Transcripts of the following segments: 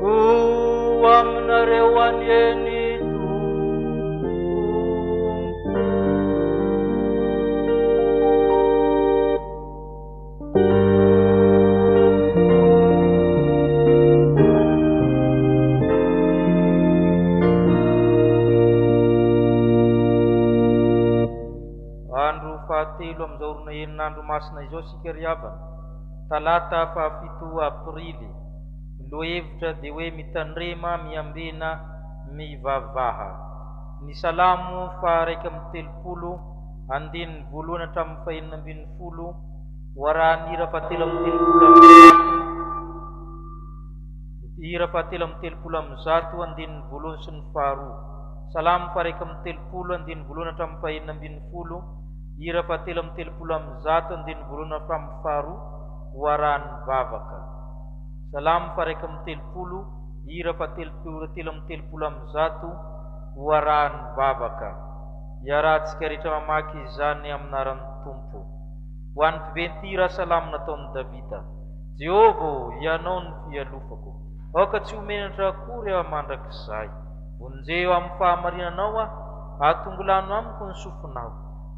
Ho aminareo anie ny Andro fahatelo amin'izao orona enin'andro masina izao isika ry havana. Talata fahafito aprily, ny lohahevitra dia hoe Mitandrema, Miambena, Mivavaha. Ny Salamo faha iraika amby telopolo, andininy voalohany hatramin'ny fahenina ambin'ny folo, Hoarahan'ny hira fahatelo amby telopolo amin'ny zato, hira fahatelo amby telopolo amin'ny zato, andininy voalohany sy ny faharoa. Salamo faha iraika amby telopolo, andininy voalohany hatramin'ny fahenina ambin'ny folo, Hira fahatelo amby telopolo amby zato andininy voalohany hatramin'ny faharoa ho arahan'ny vavaka. Salamo faharaika amby telopolo, hira fahatelopolo telo amby telopolo amby zato ho arahan'ny vavaka. Iarahantsika rehetra mamaky izany amin'aran'ny Tompo. Ho an'ny mpiventy-hira salamo nataon'i Davida. Jehovah ô, Hianao no fialofako. Aoka tsy ho menatra akory aho mandrakizay. Vonjeo amin'ny fahamarinanao aho, atongilano amiko ny sofinao,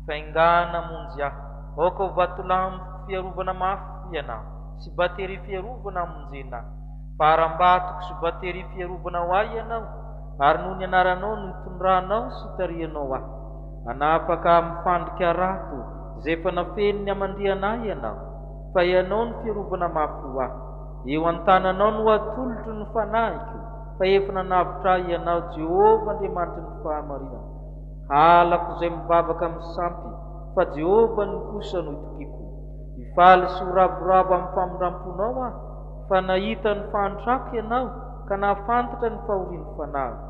faingàna hamonjy ahy, aoka ho vatolampiko fiarovana mafy ianao, sy bateria fiarovana hamonjena ahy. Fa harambatoko sy bateria fiarovana ho ahy ianao, ary noho ny anaranao no itondranao sy itarihanao ahy. Hanafaka ahy amin'ny fandrika harato izay efa nafenin'ny hamandiana ahy ianao, fa ianao no fiarovana mafy ho ahy. Eo an-tananao no hatolotro ny fanahiko. fa efa nanavotra ahy Ianao Jehovah Andriamanitry ny fahamarinana. Halako izay mivavaka misampy fa Jehovah no kosa no itokiako. Hifaly sy ho ravoravo amin'ny famindram-ponao aho fa nahita ny fahantrako Ianao ka nahafantatra ny fahorian'ny fanahiko.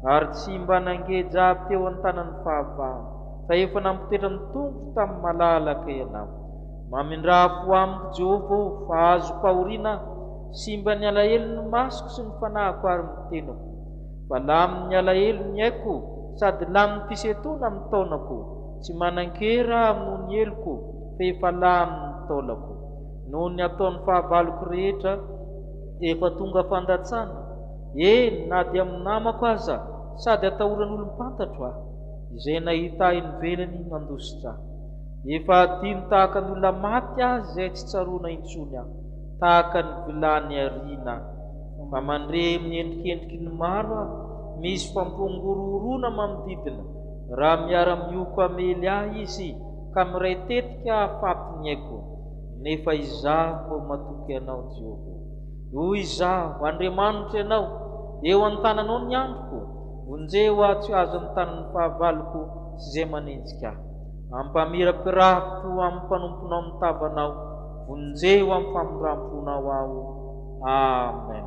Ary tsy mba nangeja ahy teo an-tanan'ny fahavahana fa efa nampotetra ny tongoko tamin'ny malalaka Ianao. Mamindrà fo amiko Jehovah o fa azo-pahoriana aho. Simba ny alahelon'ny masoko sy ny fanahiko ary ny tenako, fa lamin'ny alahelo ny aiko sady lamin'ny fisentoana amin'ny taolako, tsy manan-kery aho noho ny heloko, fa efa lamin'ny taolako. Noho ny ataon'ny fahavaloko rehetra, efa tonga fandatsana, eny, na dia amin'ny namako aza, sady atahoran'olom-pantatro aho. Izay nahita ahy nivelany nandositra ahy. Efa hadino tahaka ny olona maty aza izay tsy tsaroana intsony aho. Tahaka ny vilany ariana. Fa mandre miendrikendriky ny maro aho, misy fampihorohoroana manodidina, raha miara-mioko hamely ahy izy ka miray tetika hahafaty ny aiko. Nefa izaho vao matoky Anao, Jehovah. Hoy izaho, Andriamanitra Ianao, eo an-tananao ny androko, vonjeo aho tsy ho azon'ny tanin'ny fahavaloko sy izay manenjika ahy. Ampamirapirafiko amin'ny mpanomponao ny tavanao, vonjeo amin'ny famindramponao aho. Amen.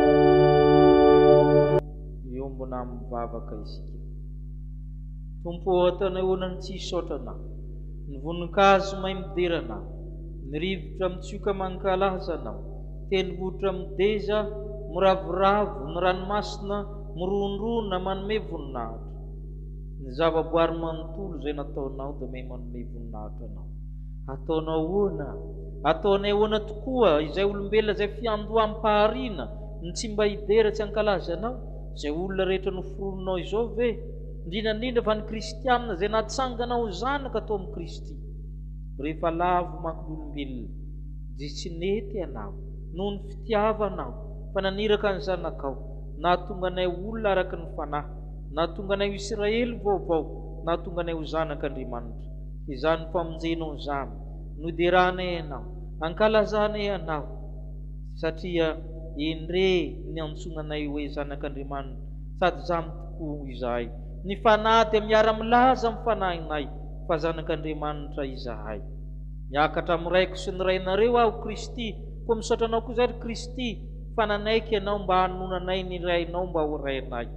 Miombona amin'ny vavaka isika. Tompo ô, ataonay honan'ny tsy hisaotra Anao. Ny voninkazo may midera Anao, ny rivotra mitsioka mankalaza Anao, tendrombohitra mideza, miravoravo, ny ranomasina mirondrona manome voninahitra. Ny zavaboary manontolo izay nataonao dia may manome voninahitra Anao. Ataonao ahoana? Ataonay ahoana tokoa, izay olombelona izay fiandoham-pahariana no tsy mba hidera tsy hankalaza Anao? Izay olona rehetra noforoninao izao ve? Indrindra indrindra fa ny Kristianina izay natsangana ho zanaka tao amin'i Kristy. Rehefa lavo manko ny olombelona, dia tsy nety Ianao, noho ny fitiavanao, fa naniraka ny Zanakao, nahatonga anay ho olona araka ny fanahy, nahatonga anay ho Isiraely vaovao, nahatonga anay ho zanak' Andriamanitra. Izany famonjenao izany, noderahanay anao, ankalazanay anao, satria endrey niantsoana anay hoe zanak'Andriamanitra, sady izany tokoa izahay. Ny fanahy dia miara-milaza amin'ny fanahinay fa zanak'Andriamanitra izahay. Miakatra amin'ny Raiko sy ny Rainareo aho, Kristy, koa misaotra Anao koa izahay, ry Kristy, fa nanaiky Ianao mba hanonona anay ny Rainao mba ho Rainay.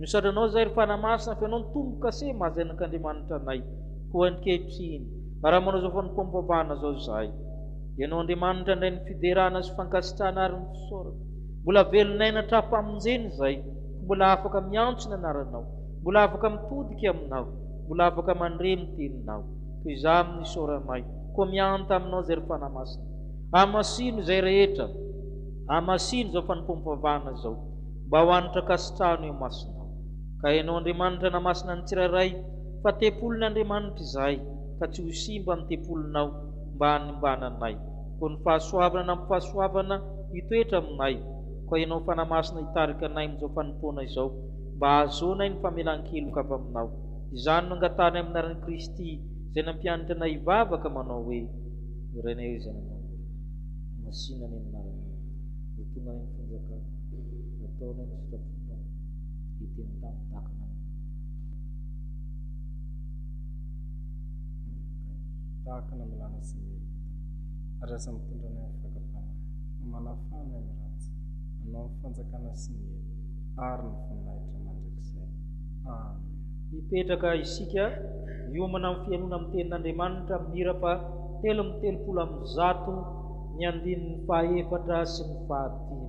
Misaotra Anao izahay, ry Fanahy Masina, fa Ianao no Tompo-kase maha-zanak'Andriamanitra anay. Koa ankehitriny, raha manao izao fanompoam-pahana izao izahay, Ianao Andriamanitra indray ny fiderana sy fankasitrahana ary ny fisaorana. Mbola velon'aina tra-pamonjena izahay, koa mbola afaka miantso ny Anaranao, mbola afaka mitodika Aminao, mbola afaka mandre ny Teninao. Koa izaho amin'ny isaoranay, koa mihanta Aminao izay ry Fanahy Masina. Hamasino izay rehetra, hamasino izao fanompoam-pavahana izao, mba ho hanitra-kasitrahana eo imasinao. Ka Ianao Andriamanitra hanamasina ny tsirairay, fa tempolin' Andriamanitra izahay, ka tsy ho simba ny tempolinao mba hanimbana anay. Koa ny fahasoavana nampifahasoavana hitoetra aminay, koa ianao Fanahy Masina hitarika anay amin'izao fanompoana izao, mba hahazoanay ny famelan-keloka avy aminao. Izany no angatahana amin'ny anaran'i Kristy, izay nampianatra anay hivavaka manao hoe, Ny Rainay izay any an-danitra. Masìna ny anaranao. Ho tonga anay ny fanjakanao. Ataonay ny sitraponao. Hiteny tamin'ny takana anay. Tahaka ny milana sy miheloka tany. Ary aza mitondra anay amin'ny fakam-panahy. Manafaha anay ny ratsy. Anao ny fanjakana sy ny hery. Ary ny voninahitra mandrakizay. Amen. Mipetraka isika hiomana amin'ny fihainoana amin'ny Tenin'Andriamanitra amin'ny hirapa telo amby telopolo amby zato ny andininy fahaefatra sy ny fahadimy.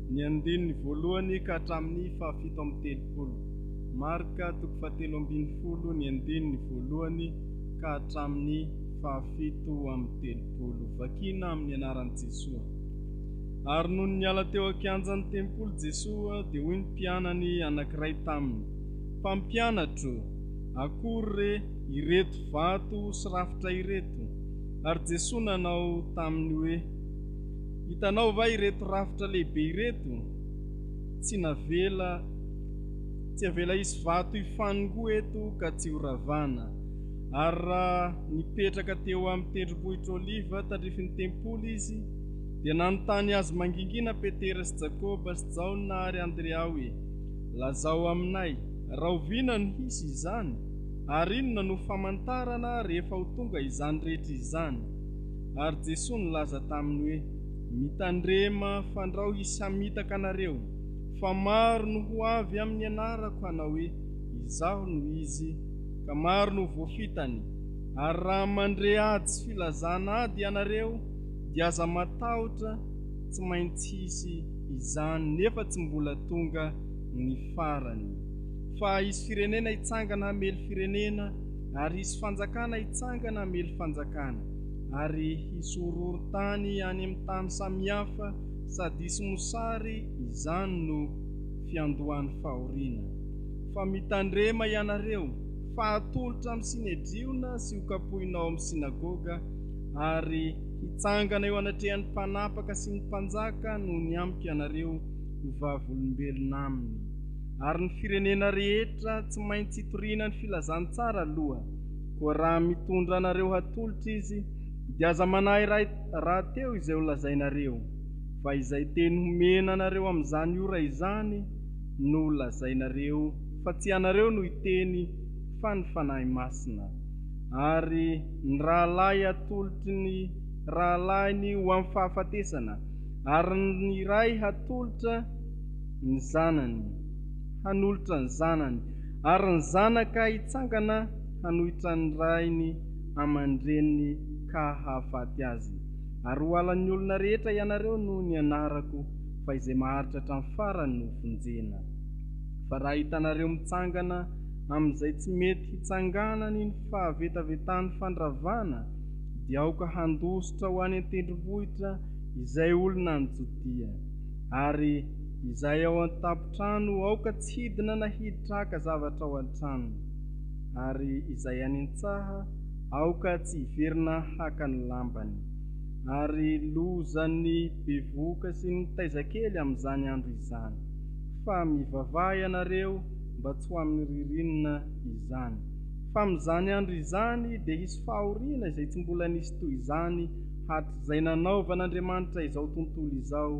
Ny andininy voalohany ka hatramin'ny fahafito amby telopolo. Marc toko fahatelo ambin'ny folo ny andininy voalohany ka hatramin'ny fahafito amby telopolo. Vakina amin'ny anaran'i Jesoa. Ary nony niala teo an-kianjan'ny tempoly Jesoa dia hoy ny mpianany anankiray taminy, Mpampianatro, akory re ireto vato sy rafitra ireto? Ary Jesoa nanao taminy hoe, Hitanao va ireto rafitra lehibe ireto? Tsy navela, tsy avela hisy vato hifanongoa eto ka tsy horavana. Ary raha nipetraka teo amin'ny tendrombohitra Oliva tandrifin'ny tempoly izy, dia nanontany azy mangingina Petera sy Jakoba sy Jaona ary Andrea hoe, Lazao aminay, rahoviana no hisy izany? Ary inona no famantarana rehefa ho tonga izany rehetra izany? Ary Jesoa nilaza taminy hoe, Mitandrema, fandrao hisamitaka anareo, fa maro no ho avy amin'ny anarako hanao hoe, Izaho no izy, ka maro no ho voafitany. Ary raha mandre ady sy filazana ady ianareo, dia aza matahotra, tsy maintsy hisy izany, nefa tsy mbola tonga ny farany. Fa hisy firenena hitsangana hamely firenena, Ary hisy fanjakana hitsangana hamely fanjakana, ary hisy horohorontany any amin'ny tany samihafa, sady hisy mosary, izany no fiandohan'ny fahoriana. Fa mitandrema ianareo, fa hatolotra amin'ny Synedriona sy hokapohina ao amin'ny Synagoga, ary hitsangana eo anatrehan'ny mpanapaka sy ny mpanjaka noho ny amiko ianareo ho vavolombelona aminy. ary ny firenena rehetra tsy maintsy hitoriana ny filazantsara aloha, koa raha mitondra anareo hatolotra izy, dia aza manahy ray rahateo izay ho lazainareo, fa izay teny homena anareo amin'izany ora izany no ho lazainareo, fa tsy ianareo no hiteny, fa ny Fanahy Masina. Ary ny rahalahy hatolotry ny rahalahiny ho amin'ny fahafatesana, ary ny ray hatolotra, ny zanany hanolotra ny zanany, ary ny zanaka hitsangana hanohitra ny rainy aman-dreniny ka hahafaty azy. Ary ho halan'ny olona rehetra ianareo noho ny anarako, fa izay maharitra hatramin'ny farany no hovonjena. Fa raha hitanareo mitsangana amin'izay tsy mety hitsanganany ny fahavetavetan'ny fandravana, dia aoka handositra ho any an-tendrombohitra izay olona any Jodia. Ary izay ao an-tampon-trano, aoka tsy hidina na hiditra haka zavatra ao an-tranony. Ary izay any an-tsaha, aoka tsy hiverina haka ny lambany. Ary loza ny bevohoka sy ny taiza kely amin'izany andro izany. Fa mivavaha ianareo mba tsy ho amin'ny ririnina izany. Fa amin'izany andro izany dia hisy fahoriana izay tsy mbola nisy toy izany hatrizay. izay nanaovan'Andriamanitra izao tontolo izao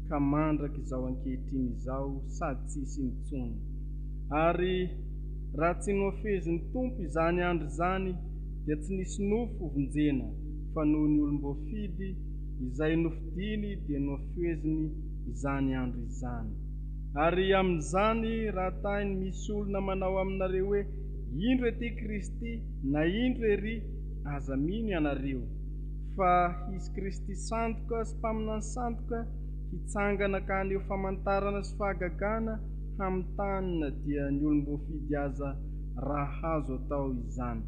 ka mandraka izao ankehitriny izao sady tsy hisy intsony. Ary raha tsy nohafezin'ny Tompo izany andro izany dia tsy nisy nofo hovonjena fa noho ny olom-boafidy izay nofidiny dia nohafeziny izany andro izany. Ary amin'izany raha tahiny misy olona manao aminareo hoe indro ety Kristy na indro ery aza mino ianareo Fa hisy Kristy sandoka sy mpaminany sandoka hitsangana ka haneho famantarana sy fahagagana hamin'ny tany na dia ny olom-boafidy aza raha hahazo atao izany.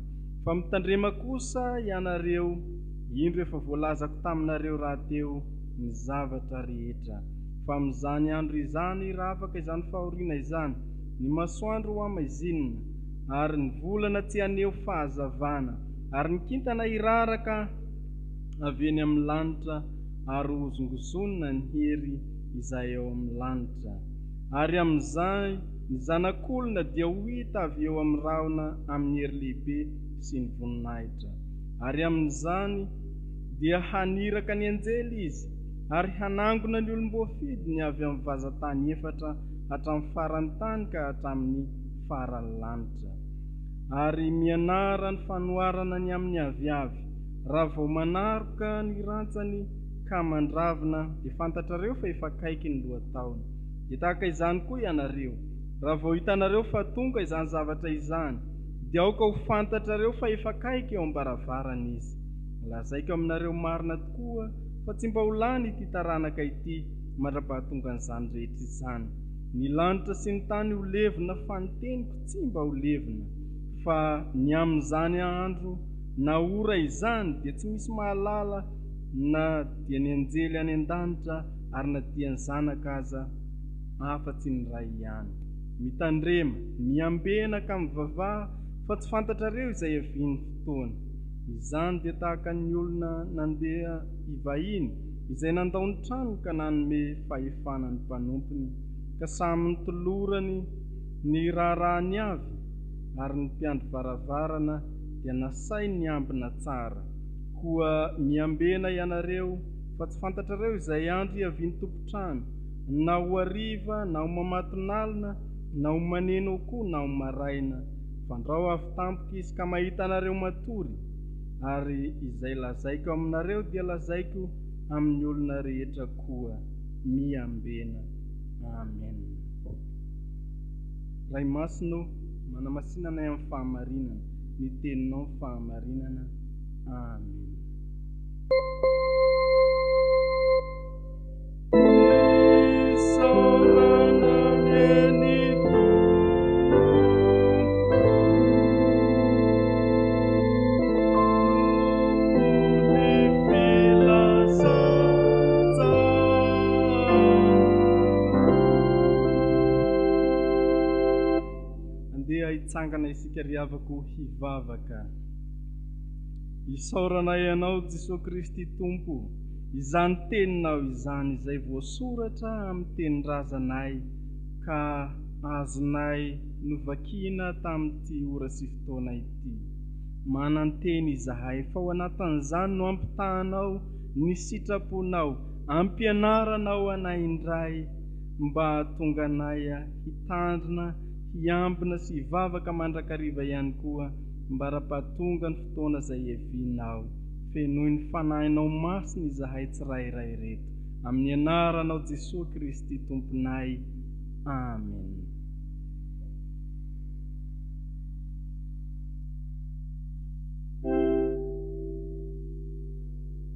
Fa mitandrema kosa ianareo, indro efa voalazako taminareo rahateo ny zavatra rehetra. Fa amin'izany andro izany, raha afaka izany fahoriana izany, ny masoandro ho hamaizinina, ary ny volana tsy haneho fahazavana, Ary ny kintana hiraraka avy eny amin'ny lanitra, ary hohozongozonina ny hery izay ao amin'ny lanitra. Ary amin'izay ny Zanak'olona dia ho hita avy eo amin'ny rahona amin'ny hery lehibe sy ny voninahitra. Ary amin'izany dia haniraka ny anjely izy, ary hanangona ny olom-boafidy ny avy amin'ny vazan-tany efatra hatramin'ny faran'ny tany ka hatramin'ny faran'ny lanitra. ary mianara ny fanoharana ny amin'ny aviavy raha vao manaroka ny rantsany ka mandravina dia fantatrareo fa efa akaiky ny lohataona. Dia tahaka izany koa ianareo, raha vao hitanareo fa tonga izany zavatra izany, dia aoka ho fantatrareo fa efa akaiky eo am-baravarana izy. Lazaiko aminareo marina tokoa fa tsy mba ho lany ity taranaka ity mandra-pahatongan'izany rehetra izany. Ny lanitra sy ny tany ho levona fa ny teniko Tsy mba ho levona, fa ny amin'izany andro na ora izany dia tsy misy mahalala na dia ny anjely any an-danitra ary na dia ny Zanaka aza, afa-tsy ny Ray ihany. Mitandrema, miambena ka mivavaha, fa tsy fantatrareo izay havian'ny fotoana. Izany dia tahaka ny olona nandeha hivahiny, izay nandao ny tranony ka nanome fahefana ny mpanompony, ka samy nitolorany, Ny raharaha ny avy ary ny mpiandry varavarana dia nasainy niambina tsara. Koa miambena ianareo, fa tsy fantatrareo izay andro hiavian'ny tompon-trano, na ho hariva, na ho mamatonalina, na ho maneno koa, na ho maraina. Fandrao avy tampoka izy ka mahita anareo matory, ary izay lazaiko aminareo dia lazaiko amin'ny olona rehetra koa. Miambena. Amena. Ray Masina ô, manamasina anay amin'ny fahamarinana, ny Teninao fahamarinana. Amena. Andeha hitsangana isika ry havako hivavaka. Isaorana Ianao Jesoa Kristy Tompo, izany Teninao izany izay voasoratra amin'ny tenin-drazanay ka azonay novakiana tamin'ity ora sy fotoana ity. Manantena izahay fa ho anatin'izany no ampitahanao ny sitraponao Ampianarana ho anay indray mba hahatonga anay hitandrina, hiambina sy hivavaka mandrakariva ihany koa ambara-pahatonga ny fotoana izay hiavianao. Fenoy ny Fanahinao Masina izahay tsirairay ireto. Amin'ny Anaranao Jesoa Kristy Tomponay. Amen.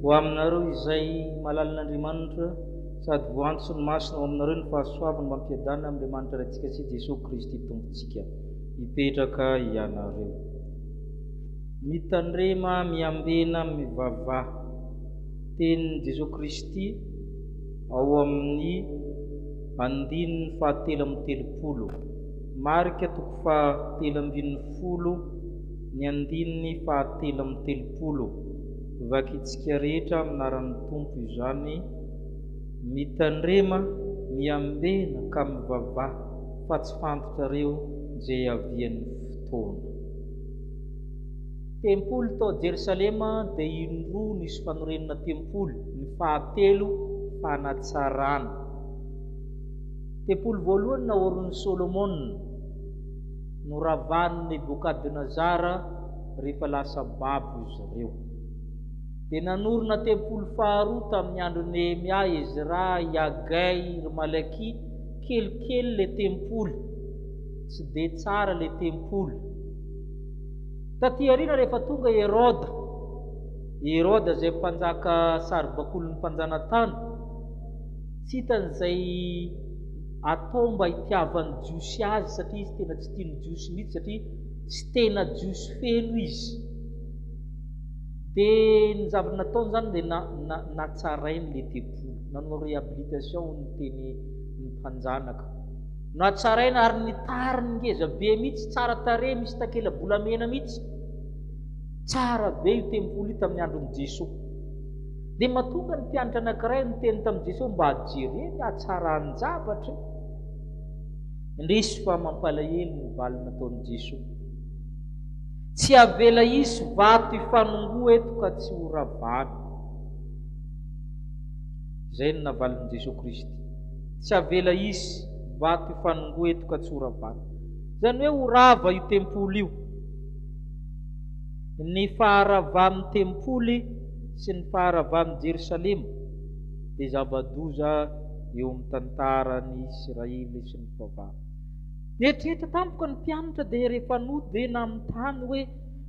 Ho aminareo izay malalin'Andriamanitra sady voantson'ny masony ao aminareo ny fahasoavany mba ampiadana amin'Andriamanitra Raintsika sy Jesoa Kristy Tompontsika hipetraka ianareo. Mitandrema miambena mivavaha. Tenin'i Jesoa Kristy ao amin'ny andininy fahatelo amby telopolo, Marka toko fahatelo ambin'ny folo, Ny andininy fahatelo amby telopolo. Vakintsika rehetra amin'ny anaran'ny Tompo izany, mitandrema, miambena ka mivavaha fa tsy fantatrareo izay hiavian'ny fotoana. Tempoly tao Jerosalema dia indroa nisy fanorenana tempoly, ny fahatelo fanatsarana. Tempoly voalohany naorin'i Solomona. Noravan'i Nebokadnezara rehefa lasa babo izy ireo. Dia nanorina tempoly faharoa tamin'ny andron'i Nehemia, Ezra, Yagai, ry Malakia, kelikely ilay tempoly, tsy dia tsara ilay tempoly. Taty aoriana rehefa tonga i Heroda, i Heroda izay mpanjaka saribakolin'ny mpanjanatany, tsy hitany izay atao mba hitiavan'ny Jiosy azy satria izy tena tsy tian'ny Jiosy mihitsy satria tsy tena Jiosy feno izy. Dia ny zavatra nataony izany dia na, na, natsarainy ilay tempoly, nanao réhabilitation hoy ny teny ny mpanjanaka. Natsaraina ary ny tariny ngeza be mihitsy, tsara tarehy, misy takela-bolamena mihitsy. Tsara be io tempoly io tamin'ny andron'i Jesoa. Dia mahatonga ny mpianatra anankiray niteny tamin'i Jesosy mba hajereny ny hatsaran-javatra indrisy fa mampalahelo ny valy nataon'i Jesosy. Tsy havela hisy vato hifanongoa eto ka tsy ho ravana. Izay no navalin'i Jesosy Kristy. Tsy havela hisy vato hifanongoa eto ka tsy ho ravana. Izany hoe ho rava io tempoly io. Ny faharavan'ny tempoly sy ny faharavan'i Jerosalema dia zava-doza eo amin'ny tantaran'i Israely sy ny fivavahana. Nieritreritra tampoka ny mpianatra dia rehefa nody dia nanontany hoe,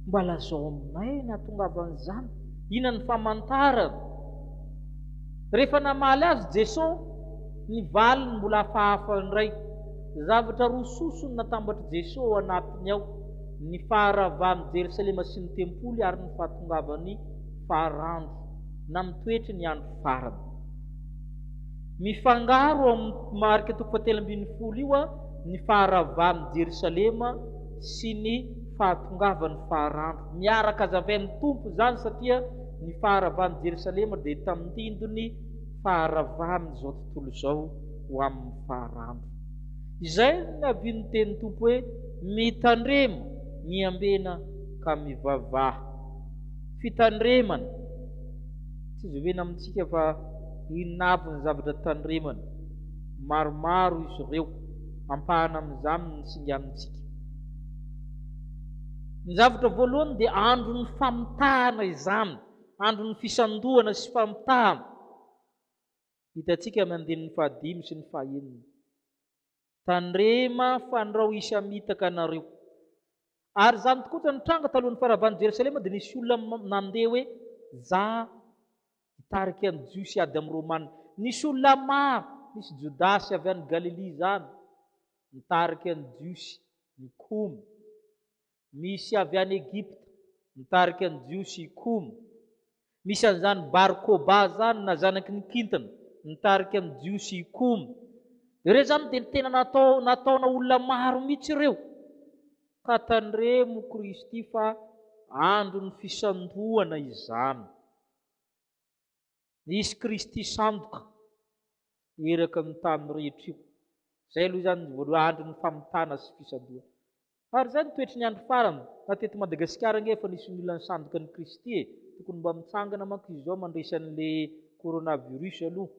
Mba lazao aminay ny hahatongavan'izany? Inona ny famantarana? Rehefa namaly azy Jesosy, ny valiny mbola hafahafa indray. Zavatra roa soso no natambatr'i Jesosy ao anatiny ao. Ny faharavan'i Jerosalema sy ny tempoly ary ny fahatongavan'ny farandro na mitoetry ny andro farany. Mifangaro ao amin'ny marika toko fahatelo ambin'ny folo io ny faharavan'i Jerosalema sy ny fahatongavan'ny farandro. Miaraka hazavain'ny Tompo izany satria ny faharavan'i Jerosalema dia tandindon'ny faharavan'izao tontolo izao ho amin'ny farandro. Izay no nabian'ny tenin'ny Tompo hoe, Mitandrema, miambena ka mivavaha. Fitandremana. Tsy izovena amintsika fa inona aby ny zavatra tandremana. Maromaro izy ireo. Ampahana amin'izany ny singanintsika. Ny zavatra voalohany dia andron'ny famitahana izany, andron'ny fisandohana sy famitahana. Hitantsika amin'ny andininy fahadimy sy ny fahenina. Tandrema fandrao hisamitaka anareo. Ary izany tokoa tsy nitranga talohan'ny faravan'i Jerosalema dia nisy olona nandeha hoe za hitarika ny Jiosy hiady amin'ny Romana. Nisy olona maro, nisy Jodasy avy any Galilia izany, nitarika ny Jiosy nikomy. Misy avy any Egypta mitarika ny Jiosy i Koum. Misy an'izany Bar Koba izany na zanaky ny kintana mitarika ny Jiosy i Koum. Ireo izany dia ny tena natao nataona olona maro mihitsy ireo. Ka tandremo Kristy fa andron'ny fisandohana izany. Nisy Kristy sandoka nieraka ny tany rehetra io. Izay aloha izany ny voaloha andro ny famitana sy fisandohana. Ary izay ny toetry ny andro farany, na teto Madagasikara ange efa nisy ny olona nisandoka an'i Kristy e! Tokony mba mitsangana manko izy izao mandresy an'ilay coronavirus aloha.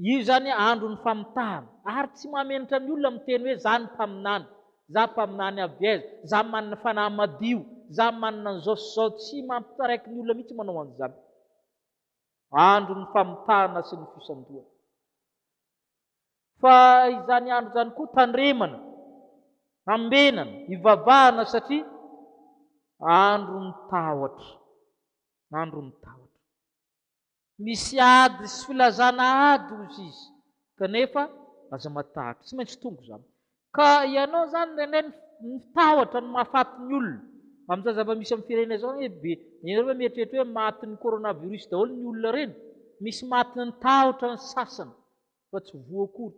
Io izany andron'ny famitahana. Ary tsy mahamenatra ny olona miteny hoe za ny mpaminany, za mpaminany aviez, za manana fanahy madio, za manana an'izao sy izao. Tsy mampitaraiky ny olona mihitsy manao an'izany. Andron'ny famitahana sy ny fisandohana. Fa izany andro izany koa tandremana, hambenana, hivavahana satria andron'ny tahotra. Andron'ny tahotra. Misy ady sy filazana ady hozy izy kanefa aza matahotra, tsy maintsy tonga izany. Ka ianao izany nene mitahotra ny mahafaty ny olona amin'izao zava-misy amin'ny firenena izao anie be, ianareo ve mieritreritra hoe matin'ny coronavirus daholo ny olona ireny? Misy matin'ny tahotra ny sasany. fa tsy voa akory.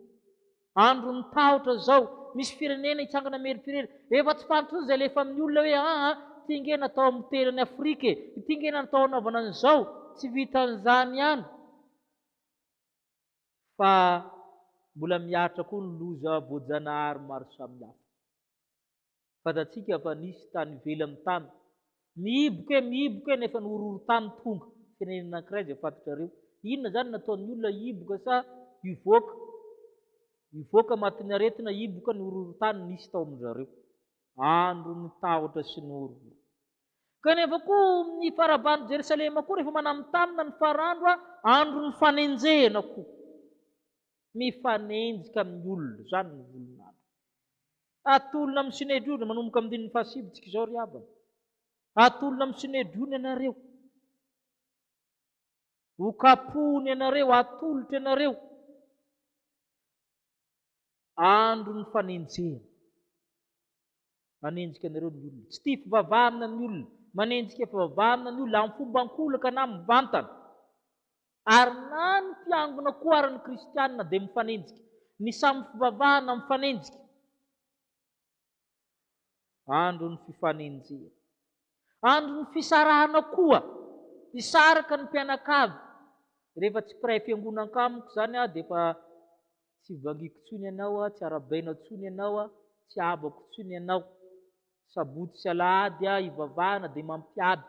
Andron'ny tahotra zao, misy firenena hitsangana meritrerera, efa tsy fantatry zay alefa amin'ny olona hoe aa ty nge natao hamotehina an'i Afrika e, ity nge natao hanaovana an'izao, tsy vitan'izany ihany fa mbola mihatra koa ny loza voajanahary maro samihafa. Fantatsika fa nisy tany ivelan'ny tany mihiboka eo mihiboka eo nefa ny horohorontany tonga, firenena anankiray izay fantatrareo. Inona izany no nataon'ny olona hihiboka sa hivoaka? Hivoaka matin'ny aretina hihiboka ny horohorontany nisy tao amin-dry zareo. Andron'ny tahotra sy ny horohoro. Kanefa koa ny faraban'i Jerosalema koa rehefa manamitanina ny farandro, andron'ny fanenjehana koa. Mifanenjika amin'ny olona, izany ny volon'andro. Hatolona amin'ny Synedriona manomboka amin'ny andininy fahasivitsika izao ry havana. Hatolona amin'ny Synedriona ianareo. Ho kapohina ianareo, hatolotra ianareo. Andro ny fanenjehana. Hanenjika anareo ny olona. Tsy tia fivavahana ny olona. Manenjika fivavahana ny olona amin'ny fomba ankolaka na mivantana. Ary na ny mpiangona koa ary ny kristiana dia mifanenjika, ny samy fivavahana mifanenjika. Andron'ny fifanenjehana. Andron'ny fisarahana koa. Hisaraka ny mpianakavy. Rehefa tsy mpiray fiangonana amiko izany aho dia efa tsy vangiako intsony ianao, tsy arabaina intsony ianao, tsy habako intsony ianao. Sabotsy sy alahady hivavahana dia mampiady.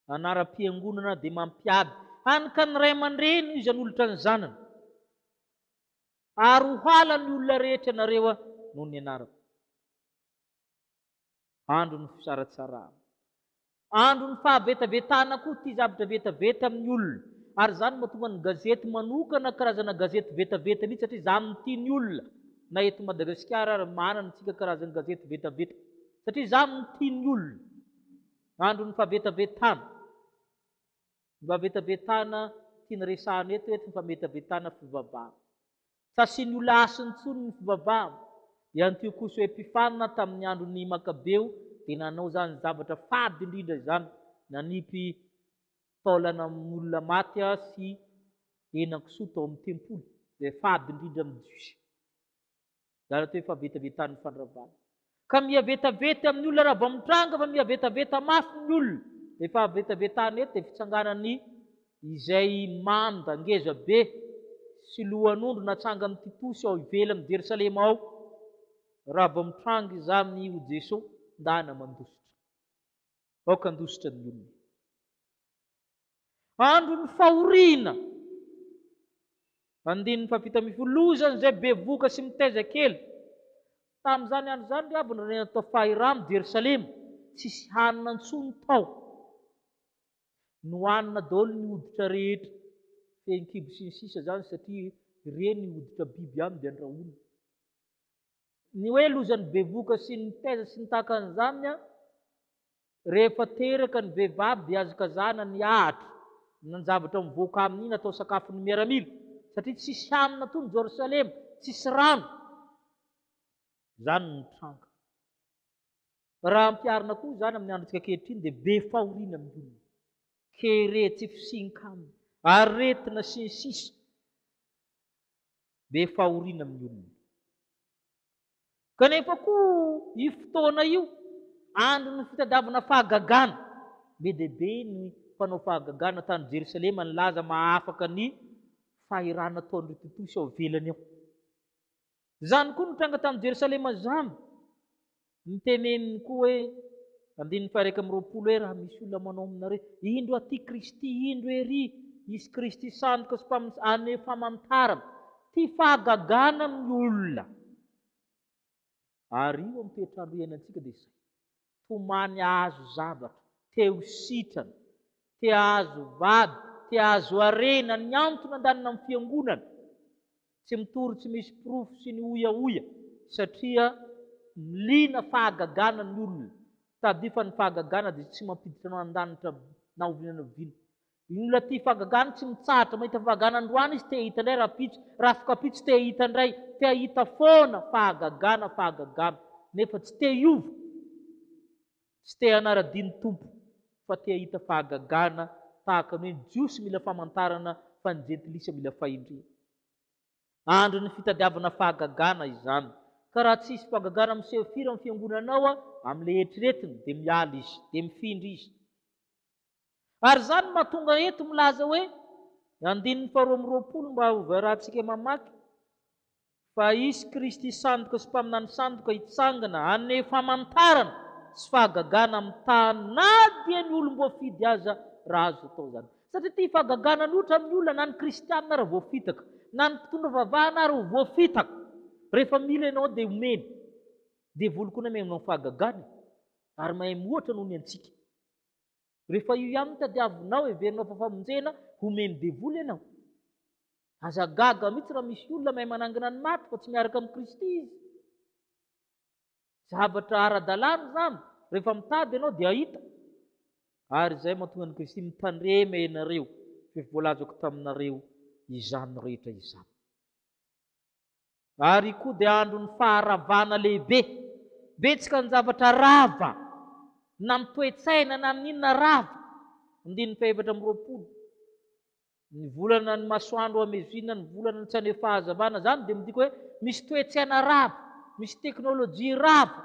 Anaram-piangonana dia mampiady hany ka ny ray aman-dreny hoy izy hanolotra ny zanany. Ary ho hala ny olona rehetra ianareo noho ny anarako. Andro ny fisaratsarahana. Andro ny fahavetavetana koa ity zavatra vetaveta amin'ny olona. Ary izany no mahatonga ny gazety manokana karazana gazety vetaveta mihitsy satria izany no tian'ny olona. Na eto Madagasikara ary manana isika karazan-gazety vetaveta satria izany no tian'ny olona. Andron'ny fahabetavetana. Ny fahabetavetana tiany resahana eto eto ny fahabetavetana fivavahana. Tsy asiany ho la'asiny intsony ny fivavahana. I Antiochos Epiphanes tamin'ny andron'ny Makabeo dia nanao izany zavatra fady indrindra izany, nanipy taolana olona maty sy henan-kisoa tao amin'ny tempoly, izay fady indrindra amin'ny Jiosy. Zara toy fa vetavetanin'ny fandravana. Ka mihavetaveta amin'ny olona raha vao mitranga fa mihavetaveta mafy ny olona. Ilay fahavetavetana eto dia fitsanganan'ny izay manda ngeza be sy lohan'ondry natsangan'ity posy ao ivelan'i Jerosalema ao raha vao mitranga izany ho Jesoa ndana mandositra. Aoka handositra ny olona. Andron'ny fahoriana. Andininy fahafito ambin'ny folo, Loza an'izay bevohoka sy mitaiza kely. Tamin'izany andro izany ry havana nanena tao Fahiramo, Jerosalema, Tsisy hanina intsony tao. Nohanina daholo ny hoditra rehetra, fehin-kibo sy ny sisa izany satria ireny hoditra biby ihany dia andrahoina. Ny hoe loza ny bevoka sy ny taiza sy ny tahaka an'izany an, rehefa teraka ny vehivavy dia azo kazana ny ahatra na ny zavatra mivoaka aminy iny atao sakafon'ny miaramila satria tsisy hanina ato ny Jerosalema, tsisy rano. Izany no nitranga. Raha ampiharina koa izany amin'ny androntsika ankehitriny dia be fahoriana amin'ny olona, kere, tsy fisian-kanina, aretina sy ny sisa. be fahoriana amin'ny olona. Kanefa koa io fotoana io, andron'ny fitadiavana fahagagana, be dia be ny mpanao fahagagana tany Jerosalema nilaza mahafaka ny fahirana ataon'ireo totozy ao ivelany ao. Izany koa no tranga tany Jerosalema izany. Noteneniny koa hoe, andininy faha-iraika amby roapolo, hoe raha misy olona manao aminareo, indro aty Kristy, indro ery hisy Kristy sandoka sy mpamosavy, anie famantarana, ty fahagagana amin'ny olona. Ary io amin'ny toetr'andro iainantsika dia izay, tomany hahazo zavatra, te ho sitrana, te hahazo vady, te hahazo harena, ny antony andanina amin'ny fiangonana, Tsy mitory tsy misy porofo sy ny hoiahoia satria liana fahagagana ny olona, tadifa ny fahagagana dia tsy mampiditra anao an-danitra na oviana na oviana. Iny olona tia fahagagana tsy mitsahatra mahita fahagagana androany izy te hahita indray rahampitso, rafokampitso te hahita indray, te hahita foana fahagagana fahagagana nefa tsy te hiova. Tsy te hanara-dia ny Tompo fa te hahita fahagagana tahaka ny hoe ny Jiosy mila famantarana fa ny Jentilisa mila fahendrena. Andron'ny fitadiavana fahagagana izany. Ka raha tsy hisy fahagagana miseho firy amin'ny fiangonanao amin'ilay eritreretiny dia miala izy, dia mifindra izy. Ary izany no mahatonga eto milaza hoe, andininy faharoa amby roapolo mba hoverahantsika mamaky, Fa hisy Kristy sandoka sy mpaminany sandoka hitsangana hanome famantarana sy fahagagana amin'ny tany na dia ny olom-boafidy aza raha azo atao izany. Satria ity fahagagana ny ohatra amin'ny olona na ny kristiana ary voafitaka, na ny mpitondra vavahana ary ho voafitaka. Rehefa mila ianao dia omeny. Devoly koa na mihaino amin'ny fahagagana e. Ary mahay mihoatra noho ny antsika. Rehefa io ihany no tadiavinao heverina ho fahafamonjena, homen'ny devoly ianao. Aza gaga mihitsy raha misy olona mahay manangana ny maty fa tsy miaraka amin'i Kristy izy. Zavatra ara-dalàna izany, rehefa mitady ianao dia hahita. Ary izay mahatonga an'i Kristy mitandrema ianareo, fa efa voalazako taminareo izany rehetra izany. Ary koa dia andron'ny faharavana lehibe. Betsaka ny zavatra rava, na amin'ny toe-tsaina na amin'ny inona rava. Andininy fahefatra amby roapolo. Ny volana ny masoandro hamezina, ny volana ny tsy haneho fahazavana. Izany dia midika hoe misy toe-tsaina rava, misy teknolojia rava,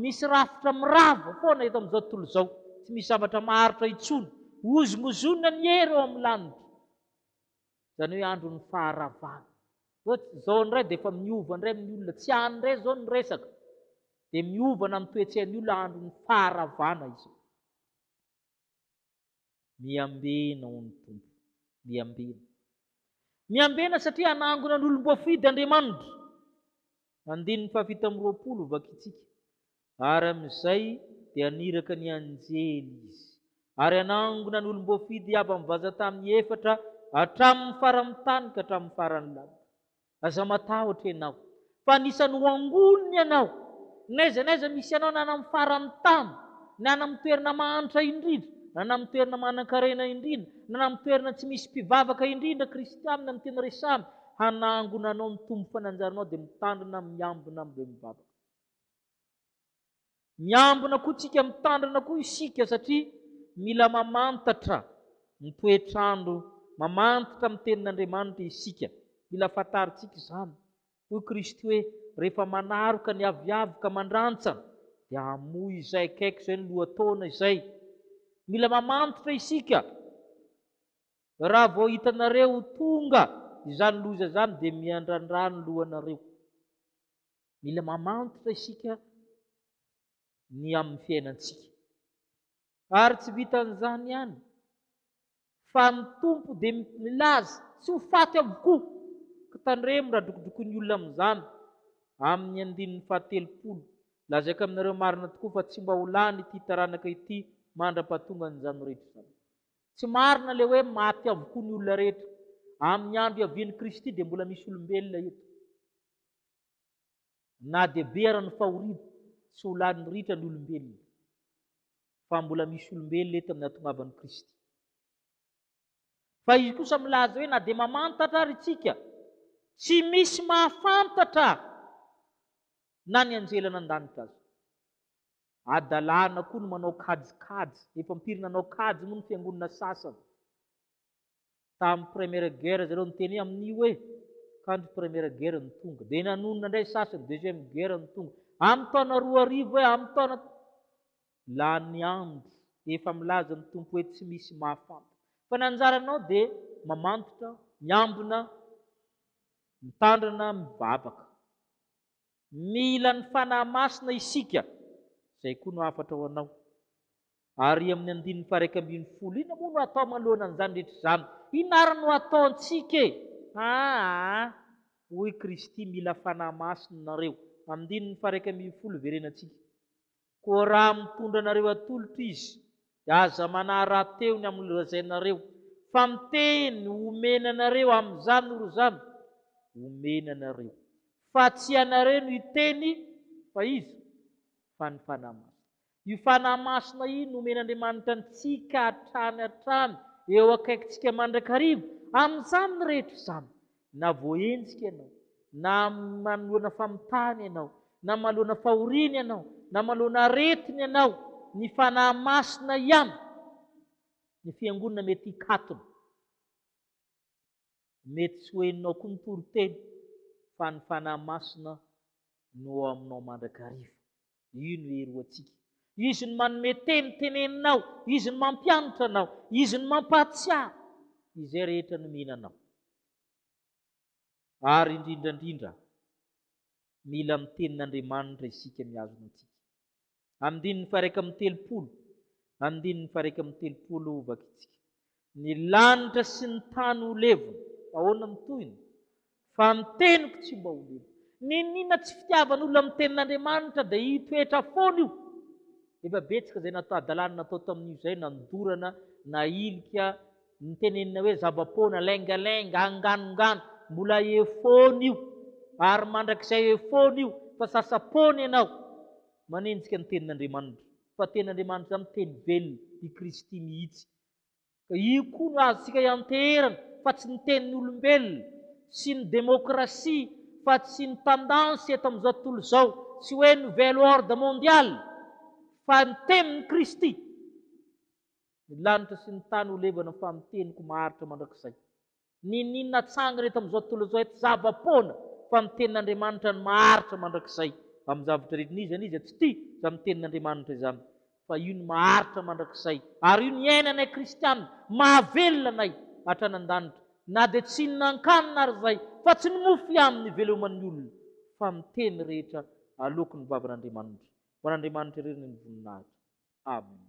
misy rafitra mirava foana eto amin'izao tontolo izao. Tsy misy zavatra maharitra intsony. Hozongozonina ny hery eo amin'ny lanitra. Izany hoe andron'ny faharavana. Zao, zao ndray dia efa miova ndray amin'ny olona, tsy any ndray zao ny resaka. Dia miovana amin'ny toetsain'ny olona andron'ny faharavana izao. Miambena ho ny Tompo. Miambena. Miambena satria hanangona ny olom-boafidy Andriamanitra. Andininy fahafito amby roapolo vakitsika. Ary amin'izay dia niraka ny anjely izy, ary hanangona ny olom-boafidy avy amin'ny vaza tamin'ny efatra hatramin'ny faran'ny tany ka hatramin'ny faran'ny lanitra. Aza matahotra ianao, fa anisan'ny ho angoniny ianao, n'aiza n'aiza misy anao, na any amin'ny faran'ny tany, na any amin'ny toerana mahantra indrindra, na any amin'ny toerana manan-karena indrindra, na any amin'ny toerana tsy misy mpivavaka indrindra, kristianina no tena resahana, hanangona anao ny Tompo fa ny anjaranao dia mitandrina, miambina, ary mivavaka. Miambina koa tsika mitandrina koa isika satria mila mamantatra ny toetr'andro, mamantatra ny tenin'Andriamanitra isika. Mila fantarintsika izany. Hoy Kristy hoe, rehefa manaroka ny aviavy ka mandrantsana, dia hamoy izay akaiky izay ny lohataona izay. Mila mamantatra isika. Raha vao hitanareo ho tonga izany loza izany dia miandrandra ny lohanareo. Mila mamantatra isika ny amin'ny fiainantsika. Ary tsy vitan'izany ihany, fa ny Tompo dia milaza tsy ho faty avokoa. Ka tandremo raha drokodrokoin'ny olona amin'izany amin'ny andininy fahatelopolo. Lazaiko aminareo marina tokoa fa tsy mba ho lany ity taranaka ity mandra-pahatongan'izany rehetra izany. Tsy marina ilay hoe maty avokoa ny olona rehetra. Amin'ny andro iavian'i Kristy dia mbola misy olombelona eto. Na dia be ara ny fahoriana, tsy ho lany mirihitra ny olombelona, fa mbola misy olombelona eto amin'ny hatongavan'i Kristy. Fa izy kosa milaza hoe na dia mamantatra ary tsika, tsy misy mahafantatra na ny anjely nandanitra aza. Adalana koa ny manao kajikajy, efa am-piry nanao kajy moa ny fiangonana sasany. Tamin'ny Première Guerre zareo niteny amin'io hoe kandry Première Guerre no tonga. Dia nanonona indray sasany Deuxième Guerre no tonga. Amin'ny taona roa arivo hoe amin'ny taona lany andro efa milaza ny Tompo hoe tsy misy mahafantatra. Fa ny anjaranao dia mamantitra, miambina, mitandrina, mivavaka. Mila ny Fanahy Masina isika, izay koa no hafatra ho anao. Ary amin'ny andininy faharaika ambin'ny folo, inona moa no atao manoloana an'izany rehetra izany? Inona ary no ataontsika e? Aa, hoy Kristy, mila Fanahy Masina nareo. Andininy faharaika ambin'ny folo, iverenantsika. Koa raha mitondra anareo atolotra izy, dia aza manahy rahateo ny amin'ny lazainareo, fa ny teny homeny anareo amin'izany ry zana, homeny anareo. Fa tsy ianareo no hiteny, fa iza? Fa ny Fanahy Masina. Io Fanahy Masina io nomen'Andriamanitra antsika hatrany hatrany, eo akaikintsika mandrakariva. Amin'izany rehetra izany, Na voaenjika ianao, na manoloana famitahana ianao, na manoloana fahoriana ianao, na manoloana aretina ianao, ny Fanahy Masina ihany no Fiangonana mety hikatona. Mety tsy ho henonao koa ny toriteny fa ny Fanahy Masina no ao aminao mandrakariva. Io no hery ho antsika. Izy no manome teny teneninao, Izy no mampianatra anao, Izy no mampahatsiaro izay rehetra nomena anao. Ary indrindra indrindra, mila ny Tenin'Andriamanitra isika mihazona antsika. Andininy faha-iraika amby telopolo, andininy faha-iraika amby telopolo, vakitsika. Ny lanitra sy ny tany ho levona. Ahoana ny tohiny? Fa ny teniko tsy mba ho levona. Niniana tsy fitiavan'olona ny tenin'Andriamanitra dia hitoetra foana io. Efa betsaka izay natao hadalana natao tamin'io izay, nandorana, nahilika, nitenenina hoe zava-poana, laingalenga, anganongano, mbola efoana io, ary mandrakizay efoana io, fa sasa-poana ianao manenjika ny tenin'Andriamanitra, fa ny tenin'Andriamanitra izany teny velona, i Kristy mihitsy, Ka io koa no azontsika ianteherana fa tsy ny tenin'olombelona sy ny demokrasia fa tsy ny tendance eto amin'izao tontolo izao, tsy hoe nouvel ordre mondial fa ny tenin'i Kristy. Ny lanitra sy ny tany ho levana fa ny teniko maharitra mandrakizay. Niniana hatsangana eto amin'izao tontolo izao eto zava-poana fa ny tenin'Andriamanitra no maharitra mandrakizay. Amin'ny zavatra rehetra n'iza n'iza tsy tia izany tenin'Andriamanitra izany, fa io no maharitra mandrakizay ary io no iainanay kristiana, mahavelona anay hatrany an-danitra, na dia tsy hihinan-kanina ary izahay, fa tsy ny mofo ihany no iveloman'ny olona, fa ny teny rehetra aloaky ny vavan'Andriamanitra. Ho an'Andriamanitra irery ny voninahitra. Amena.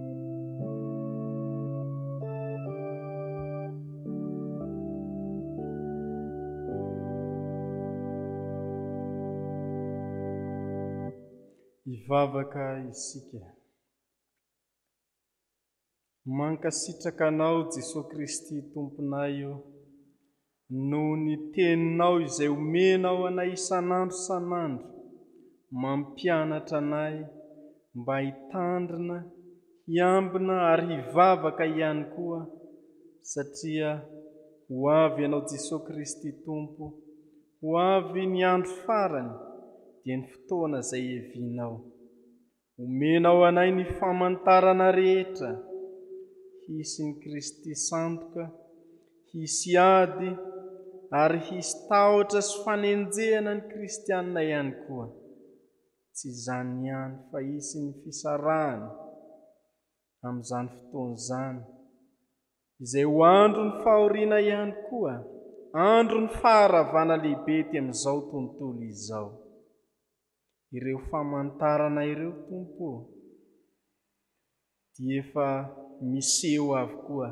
Hivavaka isika. Mankasitraka Anao, Jesoa Kristy Tomponay ô, Noho ny Teninao izay omenao anay isan'andro isan'andro, mampianatra anay mba hitandrina, hiambina ary hivavaka ihany koa, satria ho avy Ianao Jesoa Kristy Tompo, ho avy ny andro farany, dia ny fotoana izay hevinao. Omenao anay ny famantarana rehetra hisy ny Kristy sandoka, hisy ady, ary hisy tahotra sy fanenjehana ny kristiana ihany koa. Tsy izany ihany fa hisy ny fisarahana amin'izany fotoana izany, izay ho andron'ny fahoriana ihany koa, andron'ny faharavana lehibe ety amin'izao tontolo izao. Ireo famantarana ireo, Tompo ô, dia efa miseho avokoa,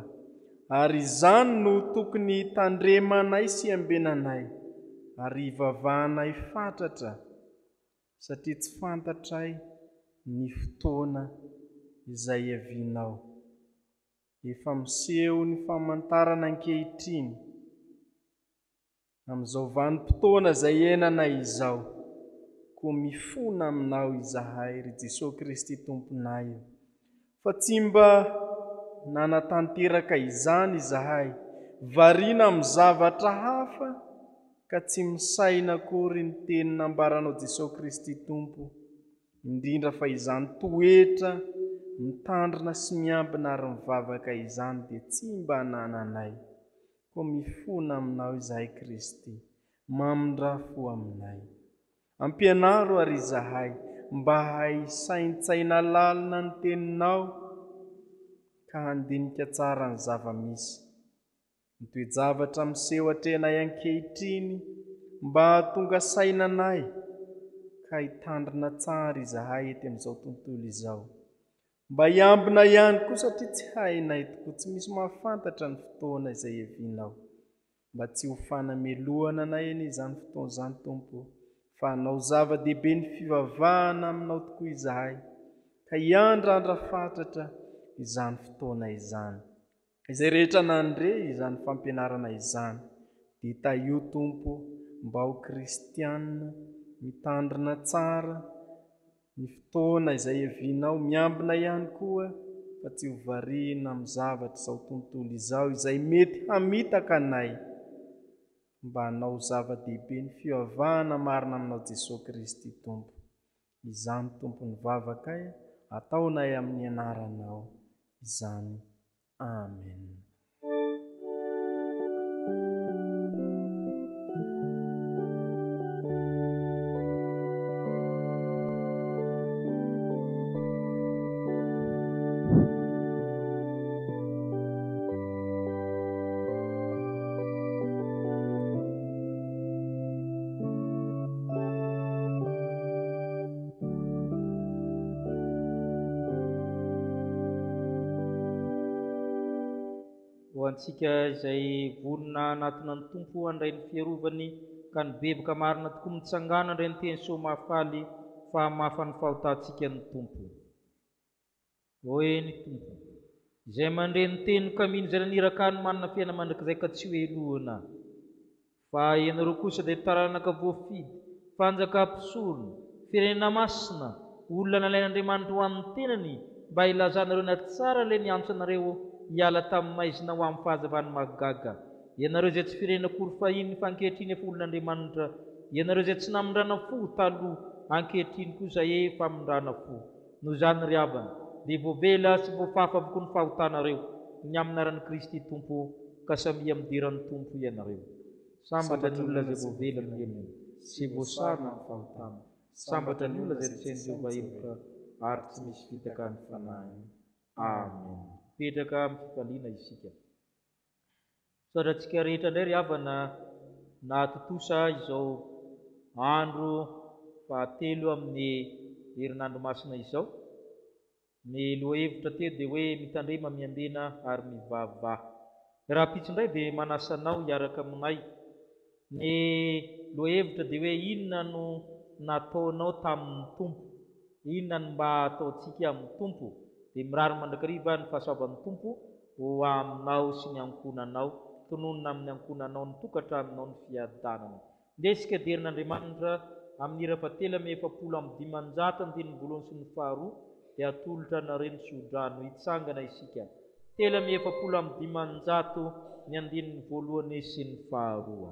ary izany no tokony hitandremanay sy iambenanay, ary hivavahanay fatratra, satria tsy fantatray ny fotoana izay hiavianao. Efa miseho ny famantarana ankehitriny. Amin'izao vanim-potoana izay ienanay izao, koa mifona Aminao izahay, ry Jesoa Kristy Tomponay ô, fa tsy mba nanatanteraka izany izahay, variana amin'ny zavatra hafa ka tsy misaina akory ny teny nambaranao Jesoa Kristy Tompo, indrindra fa izany toetra mitandrina sy miambina ary mivavaka izany dia tsy mba anananay. Koa mifona aminao izahay Kristy, mamindrà fo aminay. Ampianaro àry izahay mba hisaintsaina lalina ny Teninao ka handinika tsara ny zava-misy, ny toe-javatra miseho atrehanay ankehitriny mba hahatonga saina anay ka hitandrina tsara izahay ety amin'izao tontolo izao. Mba hiambina ihany koa satria tsy hainay tokoa, tsy misy mahafantatra ny fotoana izay hevinao. Mba tsy ho fanamelohana anay anie izany fotoana izany Tompo o, fa hanao zava-dehibe ny fivavahana aminao tokoa izahay, ka hiandrandra fatratra izany fotoana izany. Izay rehetra nandre izany fampianarana izany dia tahio Tompo mba ho kristiana mitandrina tsara ny fotoana izay hevinao miambina ihany koa fa tsy ho variana amin'ny zavatr'izao tontolo izao izay mety hamitaka anay mba hanao zava-dehibe ny fioavahana marina aminao Jesoa Kristy Tompo Izany Tompon'ny vavakay ataonay amin'ny anaranao izany. Amen. Ho antsika izay vonona hanatona ny Tompo handray ny fiarovany ka nibevoka marina tokoa mitsangàna indray ny teny Soa Mahafaly fa hamafa ny fahotantsika ny Tompo. Ô eny Tompo ô! Izay mandre ny teniko amin izay naniraka ahy no manana fiainana mandrakizay ka tsy ho helohina. Fa ianareo kosa dia taranaka voafidy, fanjaka mpisorona, firenena masina, olona nalain Andriamanitra ho an ny tenany mba hilazanareo ny hatsarany ilay niantso anareo hiala tamin ny maizina ho amin ny fahazavany mahagaga. Ianareo izay tsy firenena akory fahiny fa ankehitriny efa olon Andriamanitra. Ianareo izay tsy namindrana fo taloha, ankehitriny kosa efa amindrana fo. Noho izany ry havana, dia voavela sy voafafa avokoa ny fahotanareo, ny amin'ny anaran'i Kristy Tompo, ka samia midera ny Tompo ianareo. Sambatra ny olona izay voavela ny helony, sy voasarona amin'ny fahotana. Sambatra ny olona izay nitsain'i Jehovah heloka, ary tsy misy fitaka ny fanahiny. Amena. Mipetraka amin'ny fifaliana isika. Misaotra antsika rehetra indray ry havana nahatontosa izao andro fahatelo amin'ny herinandro masina izao. Ny lohahevitra teo dia hoe mitandrema, miambena ary mivavaha. Rahampitso indray dia manasa anao hiaraka aminay Ny lohahevitra dia hoe inona no nataonao tamin'ny Tompo? Inona no mba ataontsika amin'ny Tompo? Dia mirary mandrakariva ny fahasoavan'ny Tompo ho aminao sy ny ankohonanao. Tononina amin'ny ankohonanao, ny tokantranonao, ny fiadanana. Ndeha isika hijery an'Andriamanitra amin'ny hira fahatelo amby efapolo amby dimanjato andininy voalohany sy ny faharoa, dia atolotra anareo ny tsodrano. Hitsangana isika. Telo amby efapolo amby dimanjato ny andininy voalohane sy ny faharoa.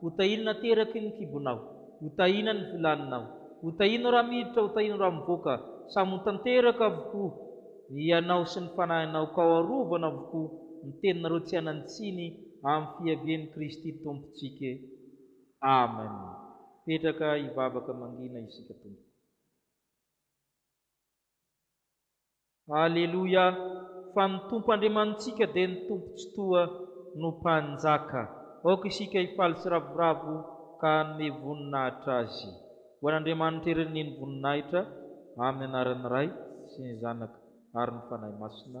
Ho tahino na teraky ny kibonao Ho tahina ny vilaninao Ho tahino raha miditra Ho tahino raha mivoaka Samy ho tanteraka avokoa Ianao sy ny fanahinao Ka ho arovana avokoa Ny teninareo tsy hanan-tsiny Amin'ny fiavian'i Kristy Tompontsika Amen Petraka hivavaka mangina isika Tompoko. Aleloia fa ny Tompo Andriamanitsika dia ny Tompo Tsitoha no Mpanjaka. Aoka isika hifaly sy ravoravo ka hanome voninahitra Azy. Ho an'Andriamanitra irery ny voninahitra, amin'ny anaran'ny Ray sy ny Zanaka ary ny Fanahy Masina.